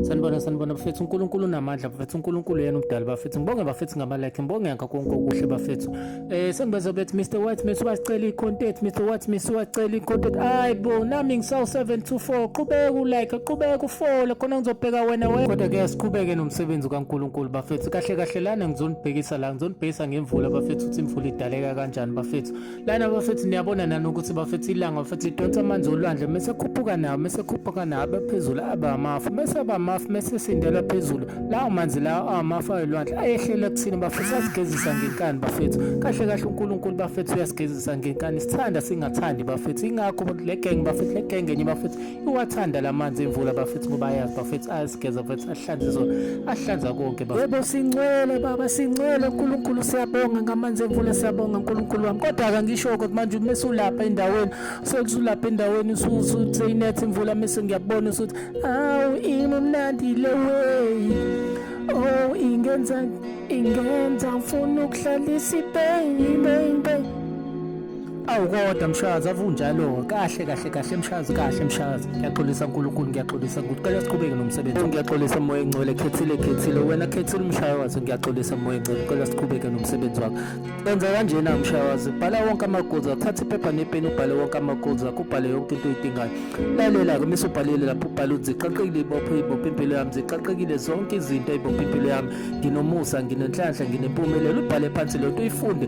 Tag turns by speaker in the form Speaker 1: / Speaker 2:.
Speaker 1: sanibona sanibona bafethu unkulunkulu unamandla bafethu unkulunkulu yena umdali bafethu ngibonge bafethu ngamalike ngibonge ngakho konke okuhle bafethu um sengibaza bethi mr white miss wasicela i-content mr white miss wasicela i-content hayi bo nami ngisawu-724 qhubeka ulike qhubeka ufole khona ngizobheka wena we kodwa ke siqhubeke nomsebenzi kankulunkulu bafethu kahle kahle lana ngizonibhekisa la ngizonibhekisa ngemvula bafethu ukuthi imvula idaleka kanjani bafethu lana bafethu niyabona nani ukuthi bafethu ilanga bafethu idonsa amanzi olwandle mese khuphuka nawo mese khuphuka nawo abaphezulu abamafu mese abamafu mese sindela phezulu lawo manzi lawo amafu ayolwandle ayehlela kuthina bafethu asigezisa ngenkani bafethu kahle kahle uNkulunkulu bafethu uyasigezisa ngenkani sithanda singathandi bafethu ingakho le gang bafethu le gang enye bafethu Uwathanda la manzi emvula bafethu ngoba ayazi bafethu ayazigeza bafethu ahlanze zona ahlanza konke yebo sincwele baba sincwele uNkulunkulu siyabonga ngamanzi emvula siyabonga uNkulunkulu wami kodwa kangisho ukuthi manje uma usulapha endaweni sekusulapha endaweni usuthe inethi imvula mese ngiyabona usuthi awu imnandi le way oh ingenza ingenza ngifuna ukuhlalisa ipain ipain Awu kodwa mshazi avunjalo kahle kahle kahle mshazi kahle mshazi ngiyaxolisa uNkulunkulu ngiyaxolisa ukuthi cela siqhubeke nomsebenzi ngiyaxolisa moya engcwele khethile khethile wena khethile umshaya wazo ngiyaxolisa moya engcwele cela siqhubeke nomsebenzi wakho enza kanjena mshaya wazo bhala wonke amagolds akho thatha iphepha nepeni ubhale wonke amagolds akho ubhale yonke into oyidingayo lalela ke mase ubhalile lapho ubhale ukuthi ziqaqekile ibophe ibophe impilo yami ziqaqekile zonke izinto ibophe impilo yami nginomusa nginenhlanhla nginempumelelo ubhale phansi lento uyifunde